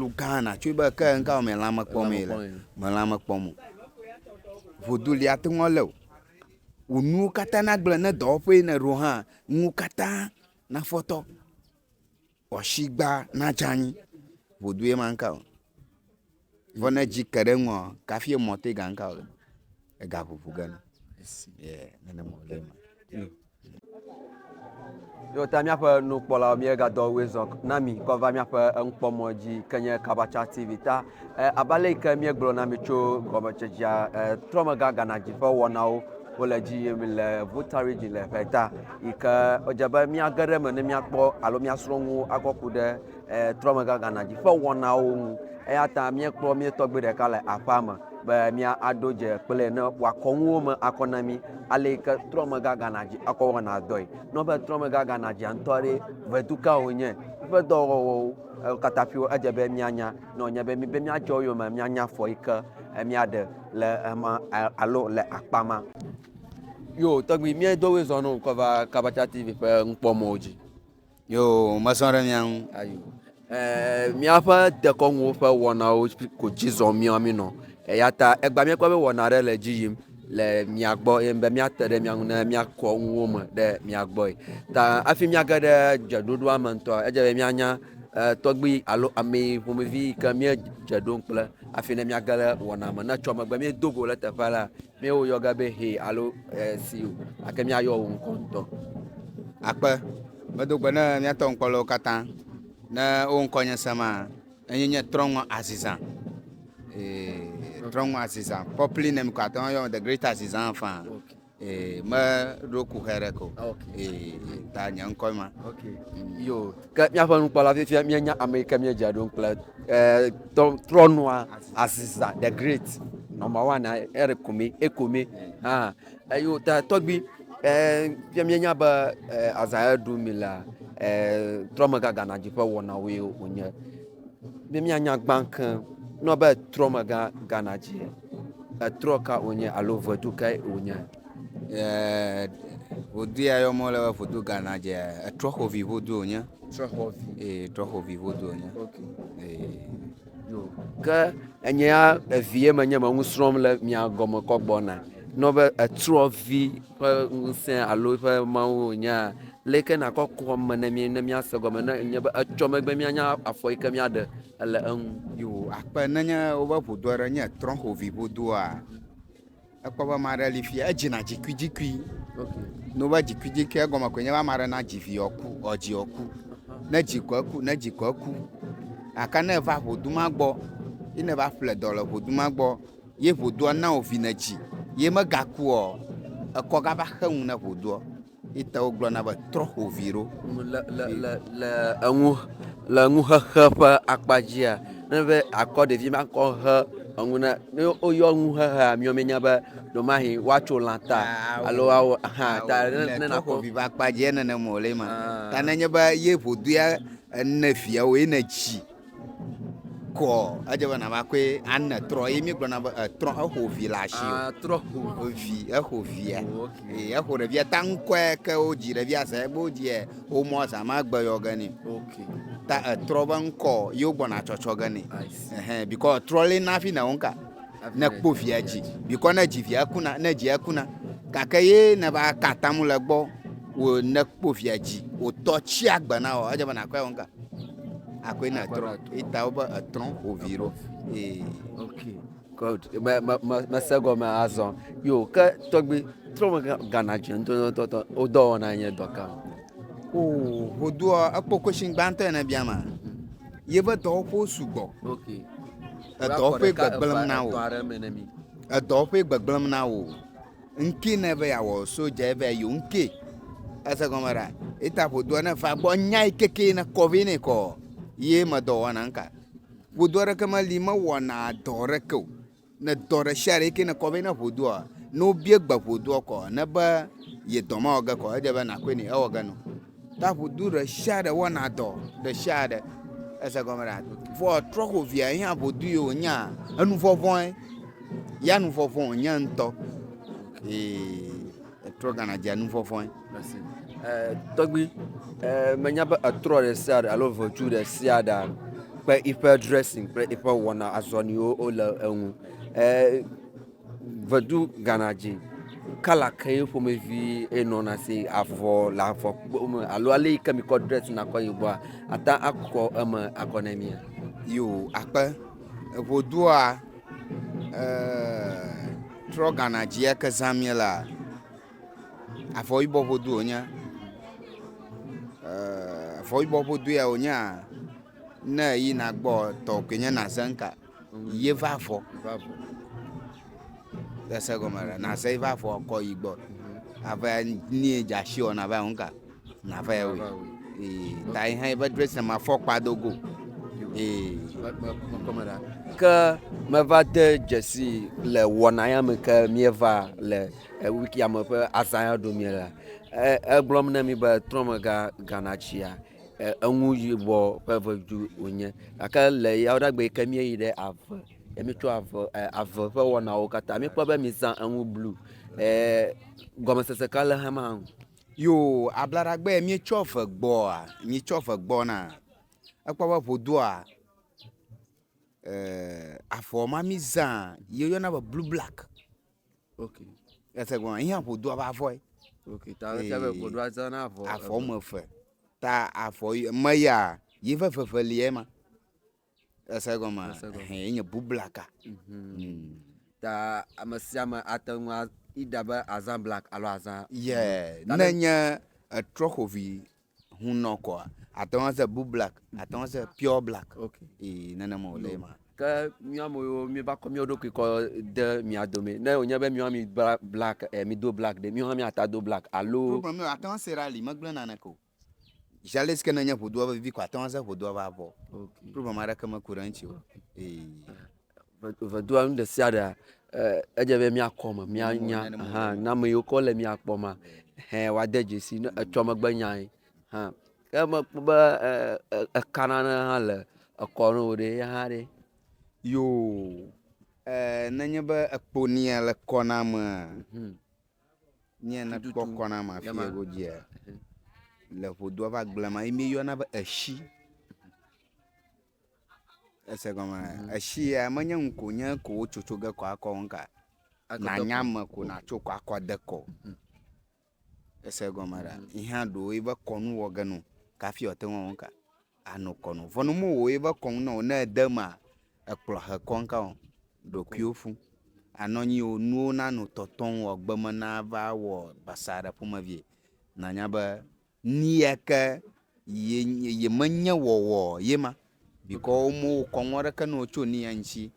Lu Ghana tsoe be ke ŋka me lãme kpɔ me le me lãme kpɔ mo vodu lia te ŋɔ le o wò nuwo katã na gblẽ ne dɔwɔƒe ne ɖo hã nuwo katã na fɔtɔ wɔshi gba na dzanyi vodu ye ma ŋka o vɔ ne dzi ke ɖe ŋɔ kafi emɔ te ga ŋka o ega ʋuʋu gana yes yeah nene mɔ le ma. Yo ta míaƒe nukpɔlawo míegadɔ wezɔ na mi kɔ va míaƒe enukpɔmɔ dzi ke nye Kabacha TV ta. E, abe ale ke míegblɔ na mi tso gɔmetsedzia e, trɔmega Ghana dzi ƒe wɔnawo wole dzi yim le Volta region le ƒeta yi ke wodze be míage ɖe eme ne míakpɔ alo míasrɔ̃ nuwo akɔ ku ɖe trɔmegaganɔ dzi ƒe wɔnawo ŋu eya ta míekpɔ mía tɔgbui ɖeka le aƒea me be míaɖo dze kple ne wòakɔ nuwo me akɔ na mí ale yi ke trɔmegaganɔ dzi akɔ wɔna dɔe. Ne wòbe trɔmegaganɔ dzia ŋutɔ ɖe vedu ka wònye, eƒe dɔwɔwɔwo wo katã ƒio edze be míanya ne wònye be míbe míadze wo yome míanya afɔ yi ke míaɖe le ema alo le akpa ma. Yo tɔgbui míedo woe zɔ ne wòkɔ va Kabata TV ƒe nukpɔmɔ̃wo dzi. Yo, mesɔ ɖe mia ŋu. Ayo. Ɛɛ, míaƒe dekɔnuwo ƒe wɔnawo ko dzi zɔm míawo mí nɔ. Eya ta egbea míekpɔ be wɔna ɖe le dzi yim le mia gbɔ ye be míate ɖe mia ŋu ne míakɔ nuwo me ɖe mia gbɔe. Ta hafi míage ɖe dzeɖoɖoa me ŋutɔa, edze be míanya ɛɛ tɔgbui alo amɛ ƒomevi yi ke míedze ɖom kple hafi ne míage ɖe wɔna me. Ne etsɔ megbe míedo go ɖe teƒe alea. Míawo wòyɔ ge be he alo esi o, gake míayɔ wò ŋkɔ ŋutɔ. Akpe, medo gbe ne míatɔ ŋkpɔlewo katã, ne wo ŋkɔnye sema, enye nye Trɔ̃ŋɔ Azizã. Ee, Trɔ̃ŋɔ Azizã. Properly name ko ate ŋu ayɔm The Great Azizã faa. Okay. Ee, meɖo kuxɛ ɖeke o. Okay. Ee, ta nye ŋkɔe ma. Okay. Mm. Yo. Ke míaƒe nukpɔla fifia míenya ame yi ke míedzea ɖom kple eh, trɔnɔa Aziza the great number one ere kome ekome hã eye wota tɔgbi eh, fia míenya be eh, Azaya ɖu mi la eh, trɔmegaga na dzi ƒe wɔnawoe wònye be míanya gbã ke nɔ be trɔmega gana dzi etrɔ ka wònye alo vedu kae wònye Eeeeee ŋodu ya yɔm wole be ŋodu ganadzea, etrɔxɔvi ŋodu wònye. Trɔxɔvi. Ee, trɔxɔvi ŋodu wònye. Ok. Ee. Yo. Ke enye ya evie menye me nu srɔ̃m le mia gɔme kɔ gbɔna. Nɔ be etrɔvi ƒe ŋusẽ alo eƒe mawu wònyea, le ke nakɔ ku ame ne mí ne míase gɔme ne enye be etsɔ megbe míanya afɔ yi ke míaɖe le eŋu. Yo, akpe nenye wobe ŋodu aɖe nye etrɔxɔvi ŋodu oa, Ekpɔ be ame aɖe li fi edzina dzikuidzikui. Ne wova dzikuidzikui egɔme koe nye be ame aɖe na dzi vi wòaku, wòadzi wòaku. Ne dzi ko eku, ne dzi ko eku. Gake ne eva ʋudu ma gbɔ ye ne va ƒle dɔ le ʋudu ma gbɔ ye ʋudua na wòvi nedzi ye megakua, ekɔ gava xe nu na ʋuduɔ, Ye ta wogblɔna be, Trɔ ƒo vi ɖo. Le, le, le, le eŋu, le eŋuxexe ƒe akpa dzia, ne enye be àkɔ ɖevi ma kɔ he eŋu ne, ne woyɔ eŋuxexea miɔ mienya be ɖewomahi woatso lã ta alo woawɔ hã ta ne, ne nakɔ. Trɔ ƒo vi ƒe akpa dzia, nenem wòle ema. Ta ne enye be ye ƒodua ene viawo ye nèdzi. kɔ edze be nava koe ane trɔ ye mi gblɔna be etrɔ exo vi le asi o Ah, trɔ ho. evi exo via Oh, ok. Ee, exo ɖevia ta ŋkɔe ke wodzi ɖevia zã egbe wodziɛ womɔ zã ma gbe yɔ ge nɛ Ok. ta etrɔ be ŋkɔ ye wogbɔna tsɔtsɔ ge nɛ I see. Ehe, bikɔ etrɔ lé na hafi nèwo ŋka ne kpɔ via dzi bikɔ ne dzi via kuna ne dzia kuna gake ye ne va ka atam le gbɔ wo ne kpɔ via dzi wòtɔ tsi agbe na wɔ edze be nàkɔe wo ŋka akɔe na trɔ eta wobe etrɔ ovi ɖo ee. ok god me me me mese gɔme azɔ yo ke tɔgbi trɔ me gana dzi ŋutɔtɔtɔ o dɔ wɔna nye dɔ kam. o o do ekpɔ question gbãtɔ ene bia ma yebe dɔwo ƒo sugbɔ ok edɔwo ƒe gbegblem na wo edɔwo ƒe gbegblem na wo. Ŋkee ne eve ya wɔ so dze eve ya yo ŋkee. Ese gɔme ɖa. Eta ƒodoa ne va gbɔ nya yi keke ne kɔ vɛ ne kɔ. Ye me dɔ wɔna nka. Ƒodoa ɖe ke me li me wɔna dɔ ɖe ke o. Ne dɔ ɖe sia ɖe ke ne kɔ vɛ ne ƒodoa no bie gbe ƒodoa kɔ ne be ye dɔ ma wɔ ge kɔ edze be na koe ne ewɔ ge no. Taƒodo ɖe sia ɖe wɔna dɔ ɖe sia ɖe. Ese gɔme ɖa. Vɔ trɔ xo via yi hã ƒodo yi wònya. Enu vɔvɔe. Ya nu vɔvɔ wònya ŋutɔ. Ee, etrɔ gana dze nu vɔvɔe. Tɔgbi, menya be etrɔ ɖe sia ɖe alo ʋetu ɖe sia ɖe kple eƒe dressing kple eƒe wɔna azɔniwo le eŋu. Vedu Ghana dzi. Kɔla ke ye ƒomevi eye nɔna si avɔ le avɔ kpɔ me alo ale yi ke mi kɔ drɛs na kɔ yi gbɔa ate ŋu akɔ eme akɔ ne mia. Yo akpe eŋodua e trɔ Ghana dzi ke zã mie la avɔ yibɔ ŋodu wonye. E avɔ yibɔ ŋodu ya wonye ne yina gbɔ tɔ koe nye na zeŋ ka. Ye va vɔ. Va vɔ. Ese gɔme ɖe na se va vɔ kɔ yi gbɔ. Ave ni e dza shi ona va nka. Na va ewe. E ta yi hã va dress ma fɔ kpa do go. E kɔme ɖa. Ke me va de dzesi le wɔna ya me ke mi va le e wiki ya me ƒe azã ya do mi la. E e gblɔm ne mi be trɔmega ganatsia. Eŋu yibɔ ƒe vedu wonye gake le yawlagbea me yi ke míeyi ɖe ave ne míetsɔ ave e ave ƒe wɔnawo katã míekpɔ be mizã enu blu e gɔmesese ka le xema nu. Yoo, ablaɖagbee míetsɔ ve gbɔa, míetsɔ ve gbɔna, ekpɔ be ƒodua e avɔ ma mizã ye woyɔna be blu blaki. ok ese gɔme ihe ƒodo ava avɔe ok ta ese be ƒodo ava na avɔ avɔ me eve ta avɔ me ya yi ƒe veve lie ma ese gɔme he nye bublaka mhm. mm. ta ame sia ame ate ŋu ida be azã black alo azã yeah ne nye etrɔxovi hunɔ kɔa ate ŋu aze bu black ate ŋu aze pure black okay. ee nenema wòle ma ke míɔ ame yiwo míeva kɔ míɔ ɖokui kɔ de mia dome ne wònye be míɔ mi bla black e mido black ɖe míɔ hã míata do black alo problem míɔ ate ŋu ase ɖe ali megblẽ naneke o jalesi ke nenye ʋudua vevivi ko ate ŋu aze ʋudua va vɔ okay. problem aɖeke meku ɖe eŋuti o ee Vedua nu ɖe sia ɖea, eh, edze be mía kɔme, mía nya, hã, na me yiwo kɔ le mía kpɔ ma, hɛ wa de dzesi ne etsɔ megbe nyae, hã. Ke me kpɔ be, eh, eh, eka nane hã le ekɔ ne wò ɖe, ya hã ɖe. Yoo, eh, ne nye be ekpo nia le kɔ na amea, mhm. nyea na kpɔ kɔ na amea fi ego dzia, mhm. le ƒodua va gblema, yi mi yɔna be eshi. Ese gɔme esia menye ŋu ko nye ko wotso tso ge kɔ akɔ ŋu ka nànya ame ko nàtso kɔ akɔ de kɔ ese gɔme ɖa yi hã ɖo yi be kɔnu wɔ ge no kafi wòate ŋu ŋu ka ano kɔnu vɔ ne mo wɔ yi be kɔnu nɔ ne ede ma ekplɔ he kɔ ŋu ka o ɖokuiwo fu anɔ anyi o nuwo nano tɔtɔ ŋu o gbeme nava wɔ basaa ɖe ƒomevie nànya be. Nuya ke ye ye menye wɔwɔ ye ma. Bikɔ wo mo wo kɔŋ wɔɖe ke no tso ni anchi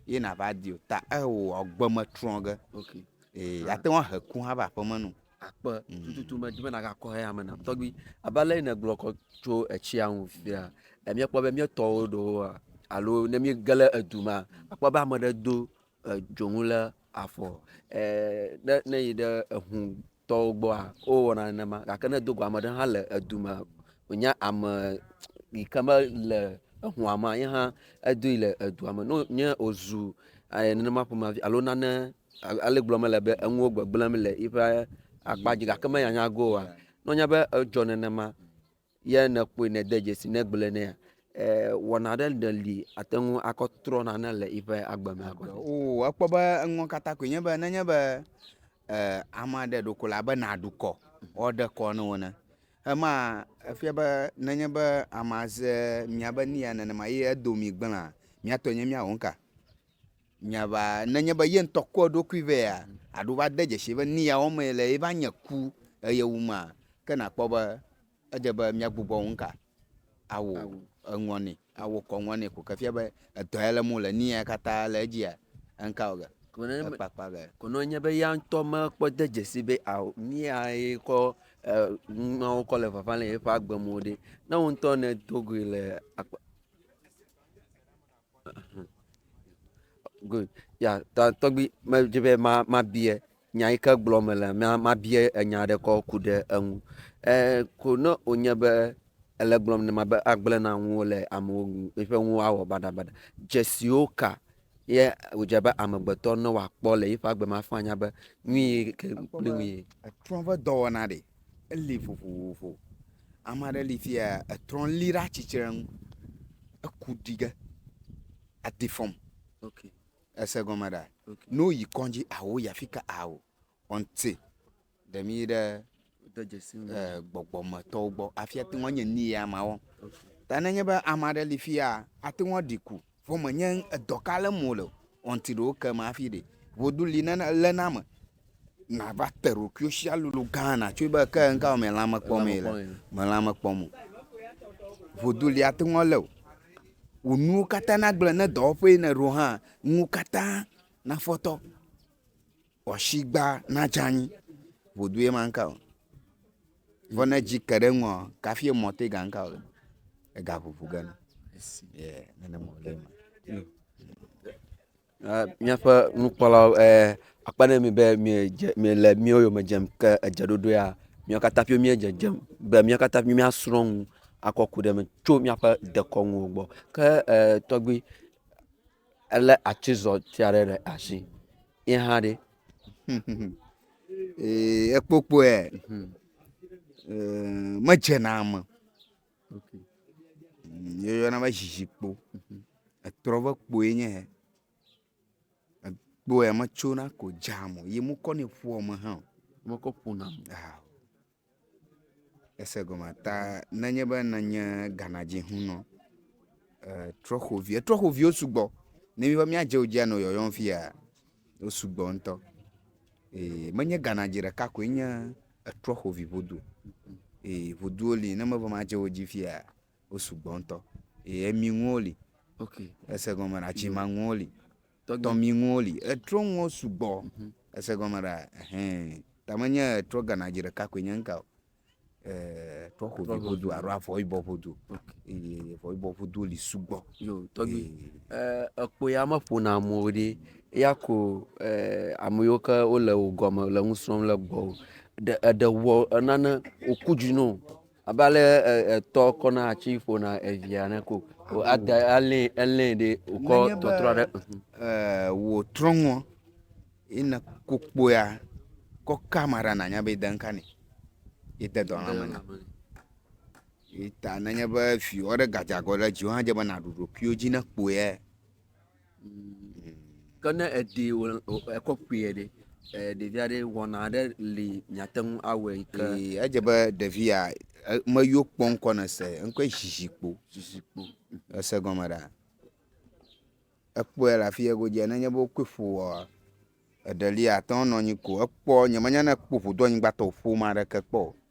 ye na va di o ta e wo agbe me trɔ ge. Ok. E ya te wa he ku ha va pe me no. Akpe mm. tututu me di me na ga kɔ he ame na tɔgbi. Aba le ne gblɔ kɔ tso etsia ŋu fia. E mi kpɔ be mi tɔ wo do wa alo ne mi gele edu ma akpɔ be ame ɖe do e dzoŋu le afɔ. E ne ne yi ɖe ehu tɔwo gbɔa, wowɔna nenema. Gake ne dogo ame ɖe hã le edu me, wònye ame yi ke mele exɔa mea, ye hã edoe le edua me. Ne wònye wòzu nenema ƒomevi alo nane, ale gblɔm mele be enuwo gbegblẽm le eƒe akpa dzi gake menyanya ge oa, ne wònye be edzɔ nenema, ye nèkpɔe nède dzesi nègblɔe nɛ. Wɔna aɖe ɖe li ate ŋu akɔ trɔ nane le eƒe agbe me agɔnɛ. O ekpɔ be enuwo katã koe nye be nenye be eh, ame aɖe ɖo ko la be nàɖu kɔ woaɖe kɔ ne wo ne. Ema efia be nenye be amea ze miabe nuya nenema ye edo mi gblẽa, miatɔe nye míawɔ nuka? Nya va nenye be ye ŋutɔ kɔ eɖokui vɛa aɖo va de dzesi be ni ya wɔmee le ye va nye ku eye wu ma ke na kpɔ be edze be mia gbugbɔ ŋu ka awu eŋɔ ni awu kɔ ŋɔ ni ko ke fia be edɔ ya le mo le ni ya kata le edzia ŋka wɔ ge ekpakpa ge. Ko ne enye be ya ŋutɔ me kpɔ de dzesi be ao ni ya ye kɔ nuawo kɔ le vava le ye ƒe agbe me ɖe ne wo ŋutɔ ne do goe le. Good, ya ta tɔgbi medzi be ma mabia nya yi ke gblɔm mele ma mabia enya aɖe kɔ ku ɖe eŋu. E ko ne wonye be ele gblɔm ne ma be agblẽ na nuwo le amewo nu eƒe nuwo awɔ baɖabaɖa. Dzesiwo ka ye wòdze be amegbetɔ ne wòakpɔ le eƒe agbe me afɔ anya be nu yi ke kple nu yi. Etrɔ̃ ƒe dɔwɔna ɖe. Eli vovovo. Ame aɖe li fiya etrɔ li ɖe atsitre nu. Eku ɖi ge. Adi fɔm. Ok. Ese egɔme ɖa? Ok. Ne woyi kɔdzi ao yi afi ka ao ɔnti ɖe mi ɖe de dzesi nu. E gbɔgbɔmetɔwo gbɔ hafi ate ŋu anye nu ye amea wɔm. Ok. Ta ne nye be ame aɖe li fiya ate ŋu aɖi ku. Vɔ me nye edɔ ka lem wole o. Ɔnti ɖe woke eme hafi ɖe vodu li nana le na me. Na va te ɖokuiwo si alolo gã na tso be ke ŋka wɔ me lãme kpɔ me le. Me lãme kpɔ mo. Vodu li ate ŋu le o. Wò nuwo katã na gblɔ ne dɔwɔƒe yi ne ɖo hã, nuwo katã na fɔtɔ. Wɔshigba na dze anyi ʋudu ye manka o. Vɔ ne dzi ke ɖe eŋua, kafi emɔ te ganka o. Ega ʋuʋu gena. Ye nene mɔ le ma. Míaƒe nukpɔlawo akpe ɖe mi be miedze miele míwo yome dzem ke edze ɖoɖo ya míawo katã ƒio míedze dzem be míawo katã ƒio míasrɔ̃ nu akɔ ku ɖe eme tso míaƒe dekɔnuwo gbɔ ke e tɔgbui. Elé atizɔti aɖe ɖe asi. Ye hã ɖe? Ee, ekpokpɔe. Mhm. Ee, medzena eme. Okay. Yeyɔna be zizikpo. Mhm. Etrɔ ve kpoe nye hɛ. Ekpoe metsona ko dzea mo. Yi mokɔ nɛ ƒoa me hã o. Mekɔ ƒona. Aa. Ese gɔme ata nenye be nènye Ghanadzihunɔ, ee trɔ̃xovi, etrɔ̃xoviwo sugbɔ. Ne míva míadze wo dzia nɔ yɔyɔm fia, wo sugbɔ ŋutɔ. Ee menye Ghanadzi ɖeka koe nye etrɔ̃xovi ŋodu o. Ee ŋoduwo li ne meva madze wo dzi fia, wo sugbɔ ŋutɔ. Ee eminuwo li. Ok. Ese gɔme, atsimanuwo li. Tɔtɔ mi ŋuwo li. Etrɔ ŋuwo sugbɔ. Ese gɔme ɖa? Ɛhɛn. Ta menye etrɔ ganadzi ɖeka koe nye ŋka o. Etrɔ xovi ƒodo alo avɔ yibɔ ƒodo. Eye avɔ yibɔ ƒodo li sugbɔ. Yo, tɔgbi. Ekpo ya meƒona mo o ɖi. Eya ko ame yiwo ke wole wò gɔme le nu srɔ̃m le gbɔwò. Ɖe eɖe wɔ nane wòku dzi nɔ wò. Abe ale etɔ kɔna atsi ƒona evia ne ko o ada alɛ elɛ ɖe okɔ tɔtrɔ ɖe. Ɛɛ wò trɔŋɔ yi ne kokpoya kɔ ka ma ɖa nanya be de nka ne yi de dɔlã me na. Yi ta nenye be viwɔ ɖe gadzagɔ ɖe dziwo hã dze be naɖu ɖokuiwo dzi ne kpoya. Ke ne èɖee wò ekɔ kpuie ɖe? Ɖevia ɖe wɔna aɖe li miate ŋu awɔe ke. Ee, edze be ɖevia meyɔ kpɔ ŋkɔ ne se ŋkɔe zizikpo. Zizikpo. Ese gɔme ɖa? Ekpɔe le afi ye godzia ne nye be wokɔe ƒoa eɖe li ate ŋu anɔ anyi ko ekpɔ nyemenya ne ekpɔ ƒodo anyigbatɔ ƒoma ɖeke kpɔ o.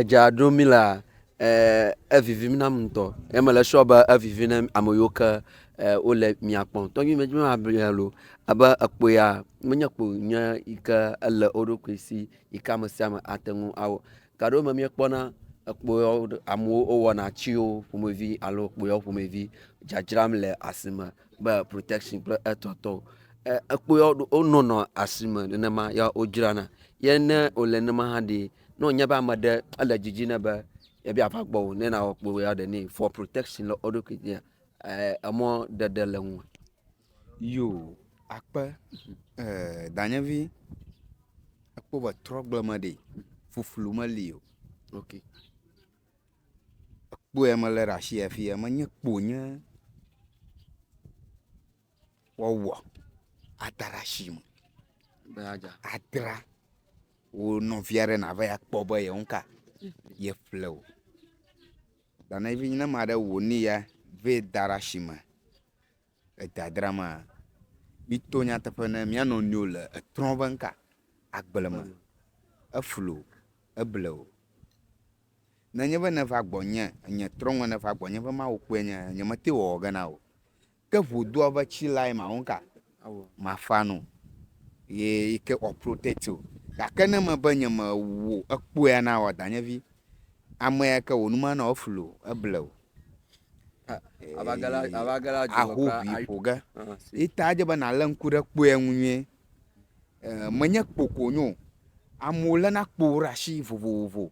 Edza ɖom mí lea, evivim nam ŋutɔ ye mele sure be evivi na ame yiwo ke wole mía kpɔm. Tɔgbuivi mí ma ble ya loo abe ekpo ya menye kpo nyui yi ke ele wo ɖokui si yi ke ame sia ame ate ŋu awɔ. Gaɖewo me míekpɔna ekpoyɔ amewo wowɔna tsiwo ƒomevi alo kpoyɔ ƒomevi dzadzram le asime be protection kple etɔtɔ. Ekpoyɔ wonɔnɔ asime nenema ya wodzrana ye ne wole nenema hã ɖi ne wònye be ame ɖe ele didi ne be yebi ava gbɔwò ne nawɔ kpoyɔ ɖe nɛ for protection le wo ɖokui dzi emɔ ɖeɖe le ŋu. Yoo akpe eer danyevi ekpɔ be trɔgble me ɖi fuflu meli o ok ekpɔe mele ɖe asi fiya menye kpo wonye woawɔ ada ɖe asi me be yeadza adra wo nɔvi aɖe nava yi kpɔ be yewo ŋka yeƒle o. Danyevi ne ame aɖe wɔ nu ya vɛ da ɖe asi me. Edadra ma, mito nyateƒe ne mía nɔnɔewo le etrɔ̃ ƒe ŋka, agble me, eflu, eble o. Nenye be nèva gbɔnye, nye trɔ̃ ŋmɛ nèva gbɔnye be Mawu kpɔe nye, nyemete wòawɔ ge na wò. Ke ʋu doa be tsi lae mawɔ ŋka? Mafa nu ye yi ke ɔ protect wò. Gake ne mebe nyemewu ekpɔea na wò, Danyevi, amea ke wò nu manɔ eflu o, eble o. ahoʋui ƒo ge ye ta edze be nàlé ŋku ɖe kpoe ŋu nyuie. Menye kpo ko wonye o, amewo léna kpo ɖe asi vovovo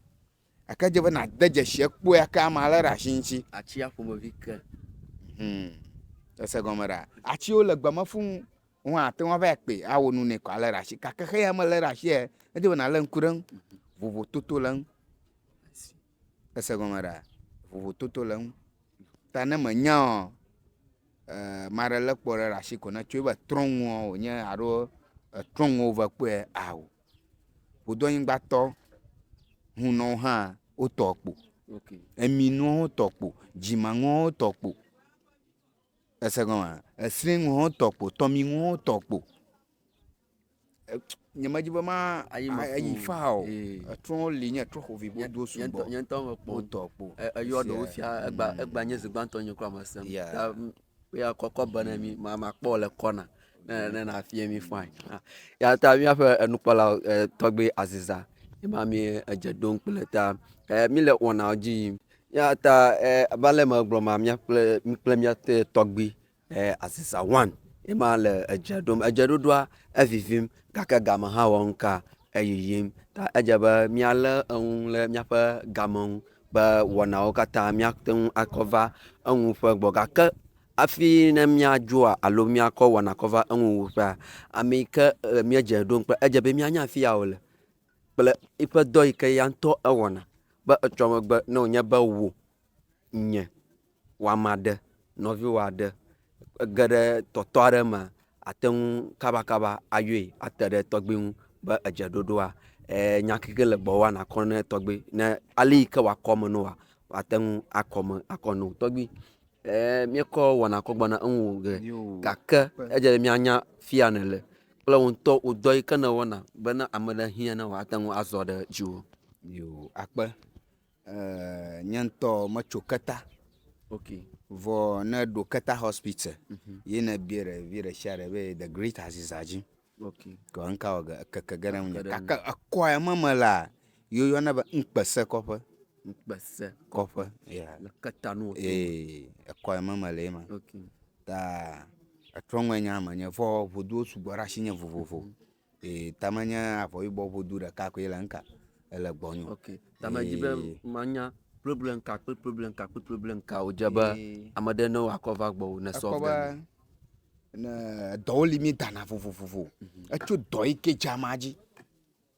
gake edze be nàde dzesi kpo yi ke amea lé ɖe asi ŋuti. Atia ƒomevi ke. Humm, èse egɔme ɖaa? Atiwo le gbe me fũu, wo hã àte ŋu ava yi kpee awɔ nu nɛ kɔ alé ɖe asi gake xeya melé ɖe asiae, edze be nàlé ŋku ɖe eŋu vovototo le eŋu. Èse gɔme ɖa? Vovototo le eŋu. Ta ne mènyaɔ, ame aɖe lé kpɔ ɖe ɖe asi ko ne tsoe be trɔ̃nuɔ wònye alo etrɔ̃nuɔ wova kpɔe ao. Ƒodoanyigbatɔ hunɔwo hã wotɔ kpo, eminuwo hã wotɔ kpo, dzimanuwo hã wotɔ kpo. Èse gɔmea? Esrɛ̃nuwo hã wotɔ kpo, tɔminuwo hã wotɔ kpo. nyemedi be ma ayi me ayi fo. faa o Ee. etrɔwo li nye etrɔ xovi Nye- wodo nye ŋutɔ- sugbɔ nye ŋutɔ mekpɔ wotɔ kpo E- eyɔ ɖewo Sia, fia egba mm. egba nye zi gbãtɔ nye kura mesem Yeah. ta m- ya kɔkɔ be ne mi ma- makpɔ wò le kɔna ne ne nàfia mi fine Ah, ya ta míaƒe enukpɔla eh, tɔgbi aziza yema mie edze ɖom kple ta eh, míle wɔnawo dzi yim ya ta eh, abe ale megblɔ ma mía kple mí kple mía te tɔgbi Ɛɛ, azizã wan ye ma le edze ɖom. Edzeɖoɖoa, evivim gake game hã wɔ ŋka eyiyim. Ta edze be míalé eŋu le míaƒe game ŋu be wɔnawo katã míate ŋu akɔ va eŋu ƒe gbɔ. Gake hafi ne míadzoa alo míakɔ wɔna kɔ va eŋu wuƒea, ame yi ke e míedze ɖom kple edze be míanya afi ya wòle kple eƒe dɔ yi ke ya ŋutɔ ewɔna be etsɔ megbe ne wònye be wò, nye. wama ɖe nɔviwòa ɖe ege ɖe tɔtɔ aɖe mea, ate ŋu kabakaba ayɔe ate ɖe tɔgbui ŋu be edze ɖoɖoa. Eer nya keke le gbɔwòa, nàkɔ ne tɔgbui. Ne ale yi ke wòakɔ eme nɛ oa, wòate ŋu akɔ eme akɔ nɛ. Tɔgbui, eer míekɔ wɔna kɔ gbɔna eŋu ŋugbe gake edze be míanya afi ya nèle kple wò ŋutɔ wò dɔ yi ke nèwɔna be ne ame ɖe hiã ne wòate ŋu azɔ ɖe dziwò. Yoo, akpe. Nye ŋtɔ metso keta okay vɔ ne ɖo keta hospital mhm. ye ne bie ɖe vi ɖe sia ɖe be the great aziza dzi okay kɔ nka wɔ keke ge ɖe ŋunye kake ekɔ ya me me la yo yɔ ne be ŋkpese kɔƒe ŋkpese kɔƒe ya le keta no to ee ekɔ ya me me le ma okay ta etrɔ ŋɔ nya me nye vɔ voduwo sugbɔ ɖe asinye vovovo mm -hmm. Ee, tame nye avɔyibɔ ƒodu ɖeka koe le ŋka ele gbɔnyo. Ok, tame dzi be manya problem ka kple problem ka kple problem ka wodze be ame ɖe ne wakɔ va gbɔwò ne sɔ be ne dɔwo li mi dana vovovovo. Mhm. Etso dɔ yi ke dzama dzi.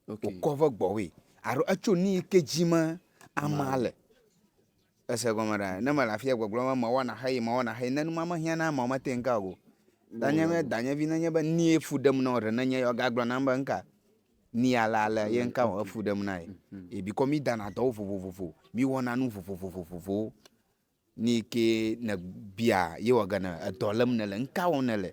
Ok. Wokɔ ve gbɔwòe. Aro etso ni yi ke dzi me ama le. Èse gɔme ɖa? Ne mele afia gbɔgblɔm be mewɔ naxee, mewɔ naxee, ne numa mehiã na ameawo mete ŋu ka o. Danye be danyevi nenye be nie fu ɖem na wò ɖe nenye ya wogagblɔ nam be ŋka ni ale ale ye ŋka wɔ efu ɖem na ye. Ye bikɔ mídana dɔwo vovovovo, míwɔna nu vovovovovowo. Ni ke nèbia ye wɔ ge ne edɔ lém nèle, ŋka wɔm nèle.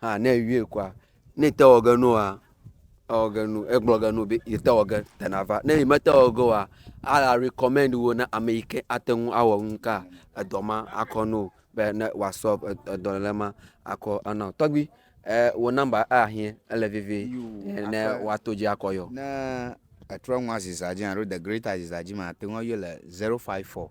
Ha ne ewie kɔa, ne ete wɔ ge nua, ewɔ ge nu, egblɔ ge nu be yete wɔ ge tena va. Ne yi mete wɔ ge oa, a recommend wo na ame yi ke ate ŋu awɔ nu ka edɔ ma akɔ na wo be ne woa solve edɔ ɖe ma akɔ ana wo. Tɔgbui, eh wò number eya hiɛ ele vevie eh ne woato dzi akɔ yɔ. Ne etrɔ nua zizã dzi alo the greater zizã dzi ma, ate ŋu ayɔe le zero five four.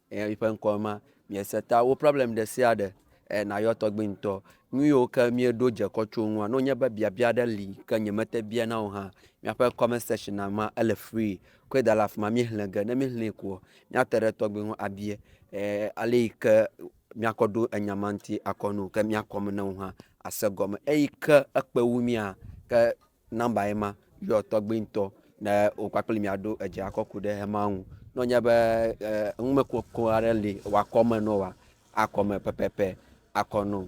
Eya mi ƒe ŋkɔ ema. Miese ta wo problem ɖe sia ɖe e nayɔ tɔgbi ŋtɔ. Nuyiwo ke mie ɖo dze kɔ tso ŋua, no nye be biabia ɖe li ke nye mete bia na o hã, miaƒe comment section a ma ele free. Kɔe da ɖe afima mi hle ge. Ne mi hle koa, mia te ɖe tɔgbi ŋu a bia e aleyi ke mia kɔ ɖo enya ma ŋti akɔ no. Ke mia kɔme na wo hã a se gɔme. Eyi ke ekpe wu mia ke. Nɔmba ye ma, yɔ tɔgbi ŋtɔ ne wo kpakple mia ɖo edze akɔ ku ɖe ema ŋu. Ne wonye be numekoko aɖe li wa kɔ me no wa, akɔ me pɛpɛpɛ akɔ no.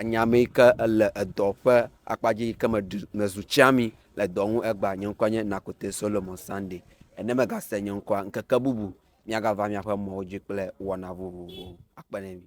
Enya ame yi ke le edɔ ƒe akpa dzi yi ke me ɖi me zu tsiami le dɔ ŋu egba. Nye ŋkɔ nye Nakote Solomon Sande. Ne me ga se nye ŋkɔa, ŋkeke bubu mia ga va miaƒe mɔwo dzi kple wɔna vovovowo. Akpe ɖe mi.